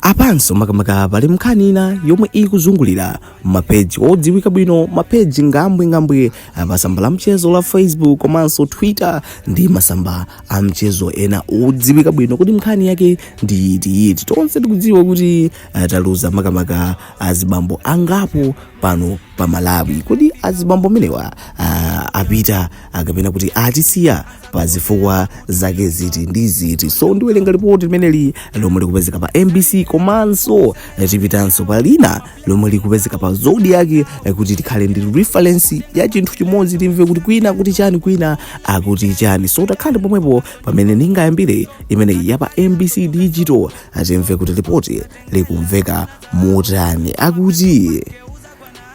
apanso makamaka pali nkhani ina yomwe ikuzungulira mapeji odziwika bwino mapeji ngambwingambwi pa tsamba la mchezo la facebook komanso twitter ndi masamba a mchezo ena odziwika bwino kodi nkhani yake ndi itiyiti tonse tikudziwa kuti uh, taluza makamaka azibambo angapo pano pa malawi kodi azibambo amenewa uh, apita kapena kuti atisiya pa zifukwa zake ziti ndi ziti so ndiwelenga lipoti limeneli lomwe likupezeka pa mbc komanso eh, tipitanso pa lina lomwe likupezeka pa zodiak eh, kuti tikhale ndi reference ya chinthu chimodzi timve kuti kwina akuti chani kwina akuti chani so takhalani pomwepo pamene ndingayambire imeneyi ya pa mbc digital timve kuti lipoti likumveka motani akuti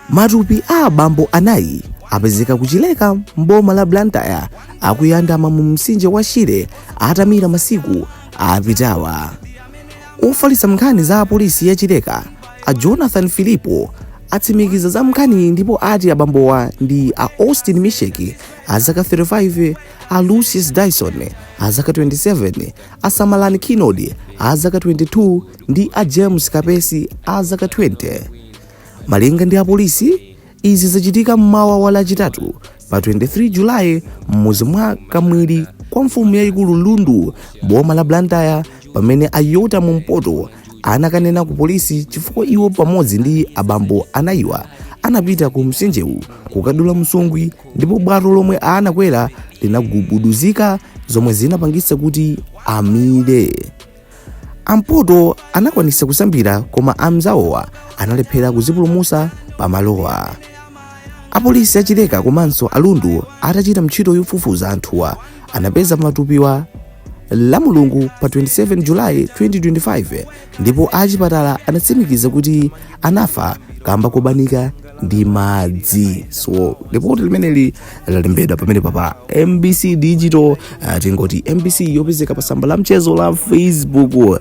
Matupi a abambo anayi apezeka ku Chileka m'boma la Blantyre akuyandama mu mtsinje wa Shire atamira masiku apitawa. Ofalitsa nkhani za apolisi ya Chileka a Jonathan Filipo atsimikiza za nkhaniyi ndipo ati abambowa ndi a Austin Misheki a zaka 35, a Lucius Dyson a zaka 27, a Samalani Kinodi a zaka 22 ndi a James Kapesi a zaka 20. Malinga ndi apolisi, izi zachitika mmawa wa Lachitatu pa 23 Julayi m'mudzi mwa Kamwiri kwa mfumu yayikulu Lundu m'boma la Blantyre pamene a Yota Mumpoto anakanena ku polisi chifukwa iwo pamodzi ndi abambo anayiwa anapita ku mtsinjewu kukadula nsungwi ndipo bwato lomwe anakwera linagubuduzika zomwe zinapangitsa kuti amire. a mpoto anakwanitsa kusambira koma anzawowa analephera kudzipulumutsa pamalowa apolisi a chileka komanso a lundu atachita ntchito yofufuza anthuwa anapeza matupiwa lamulungu pa 27 julayi 2025 ndipo achipatala anatsimikiza kuti anafa kamba kobanika ndi madzi so lipoti limeneli lalembedwa pamenepa pa mbc digital uh, tingoti mbc yopezeka pa tsamba la mchezo la facebook uh,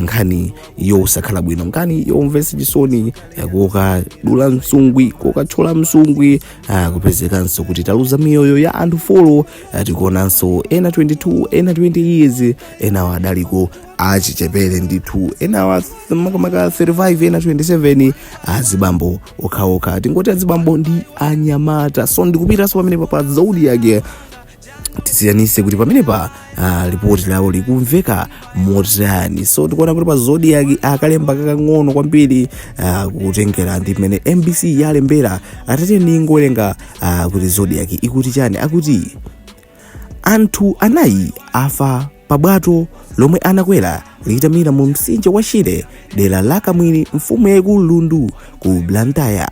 nkhani yosakhala bwino nkhani yomvetsa chisoni uh, kokadula nsungwi kokathyola nsungwi uh, kupezekanso kuti taluza miyoyo ya anthu folo uh, tikuonanso ena 22 ena 20 years enawo adaliko achichepere ndithu enawa makamaka 35 ena 27 azibambo okhaokha tingoti azibambo ndi anyamata so ndikupitanso pamenepa pa zodiak tisiyanitse kuti pamenepa uh, ripoti lawo likumveka motani so tikuona kuti pa zodiak akalemba kakang'ono kwambiri uh, kutengera ndi mmene mbc yalembera tate ndingowerenga uh, kuti zodiak ikuti chani akuti Anthu anayi afa pa bwato lomwe anakwera litamira mu mtsinje wa Shire dera la Kamwiri mfumu yaikulu Lundu ku Blantyre.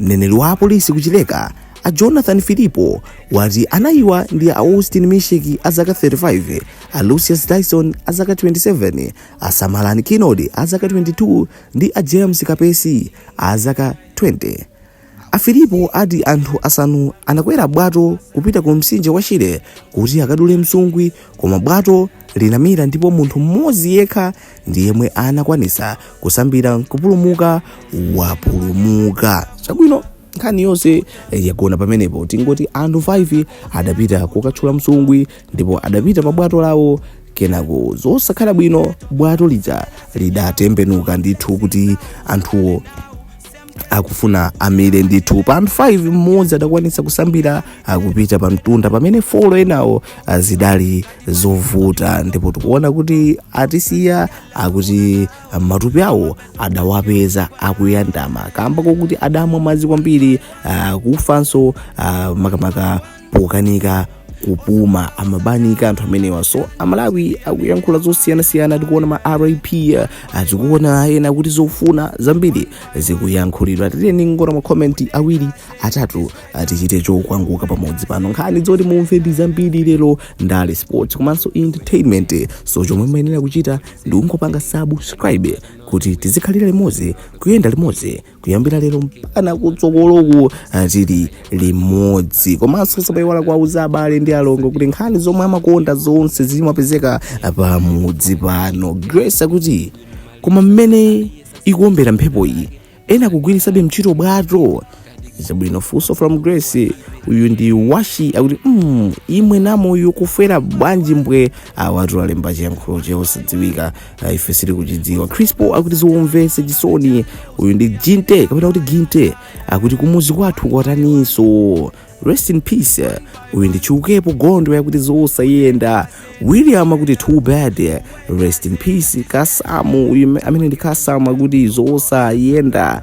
Mneneri wa apolisi ku Chileka a Jonathan Filipo wati anayiwa ndi a Austin Misheki a zaka 35, a Lucius Dyson a zaka 27, a Samalani Kinodi a zaka 22 ndi a James Kapesi a zaka 20. A Filipo ati anthu asanu anakwera bwato kupita ku mtsinje wa Shire kuti akadule msungwi koma bwato linamira ndipo munthu mmodzi yekha ndi yemwe anakwanitsa kusambira nkupulumuka. Wapulumuka. Chabwino nkhani yonse eh, yagona pamenepo tingoti anthu 5 adapita kokatchula msungwi ndipo adapita pa bwato lawo kenako zosakhala bwino bwato lija lidatembenuka ndithu kuti anthuwo akufuna amire ndithu pa anthu 5 mmodzi adakwanitsa kusambira nkupita pa mtunda pamene folo enawo ah, zidali zovuta ndipo tikuona kuti atisiya akuti ah, matupi awo adawapeza akuyandama kamba kokuti adamwa madzi kwambiri ah, kufanso ah, makamaka pokanika kupuma amabanika anthu amenewa so amalawi akuyankhula zosiyanasiyana tikuona ma rip tikuona ena akuti zofuna zambiri zikuyankhulidwa tiyeni tingoona makomenti awiri atatu tichite chokwanguka pamudzi pano nkhani zoti mumve ndi zambiri lero ndale sports komanso entertainment so chomwe muyenera kuchita ndi kungopanga subscribe kuti tizikhalira limodzi kuyenda limodzi kuyambira lero mpaka kutsogoloku tili limodzi komanso osayiwala kuwauza abale ndi alongo kuti nkhani zomwe amakonda zonse zimapezeka pamudzi pano grace akuti koma mmene ikuombera mphepo iyi ena kugwiritsabe ntchito bwato zabwino funso from grace uyu ndi washi akuti mm, imwe namoyo kufera bwanji mbwe awatu alemba chiyankhulo chosadziwika Ah, ife sitikuchidziwa crispo akuti zomvetsa chisoni uyu ndi jinte kapena kuti ginte akuti kumuzi kwathu kwataninso rest in peace uyu ndi chiukepo gondwe akuti zosayenda william akuti too bad rest in peace kasamu uyu amene ndi kasamu akuti zosayenda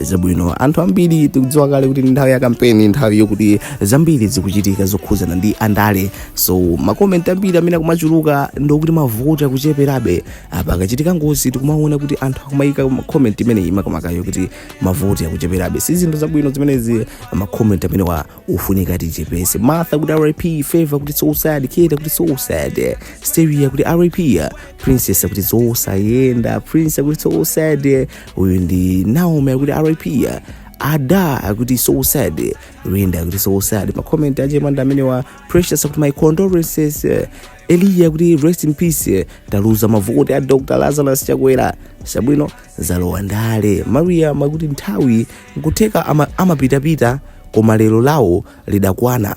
zabwino anthu ambiri tikudziwa kale kuti nthawi ya kampeni nthawi yokuti zambiri zikuchitika zokhuzana ndi andale so makomenti ambiri amene akumachuluka ndokuti mavuti akucheperabe apa akachitika ngozi tikumaona kuti anthu akumayika makomenti imeneyi makamakayo kuti mavuti akucheperabe si zinthu zabwino zimenezi makomenti amenewa akufunika tichepese martha akuti rip favor akuti so sad kida akuti so sad steria akuti rip princess akuti zosayenda prince akuti so sad uyu ndi naomi akuti rip ada akuti so sad linda akuti so sad makomenti achemanda amenewa precious akuti my condolences eh, eliya kuti rest in peace eh, taluza mavoti a dr lazarus chakwera chabwino zalowa ndale maria makuti nthawi nkutheka ama- amapitapita koma lero lawo lidakwana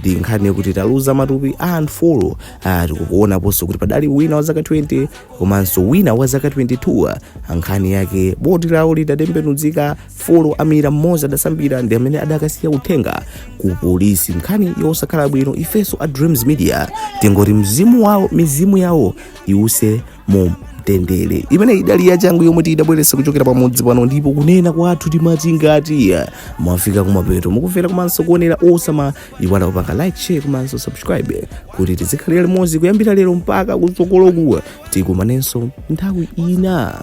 ndi nkhani yokuti taluza matupi a anthu folo ah, tikupaonaponso kuti padali wina wa zaka 20 komanso wina wa zaka 22 ah, nkhani yake boti lawo lidatembenuzika folo amira mmodzi adasambira ndi amene adakasiya uthenga ku polisi nkhani yosakhala bwino ifenso a dreams media tingoti mzimu wawo mizimu yawo iwuse mu mtendere imene idali yachangu yomwe tidabweretsa kuchokera pamudzi pano ndipo kunena kwathu timati ngati mwafika kumapeto mukumvera komanso kuonera osamaiwala kupanga like share komanso subscribe kuti tizikhalira limodzi kuyambira lero mpaka kutsogoloku tikumanenso nthawi ina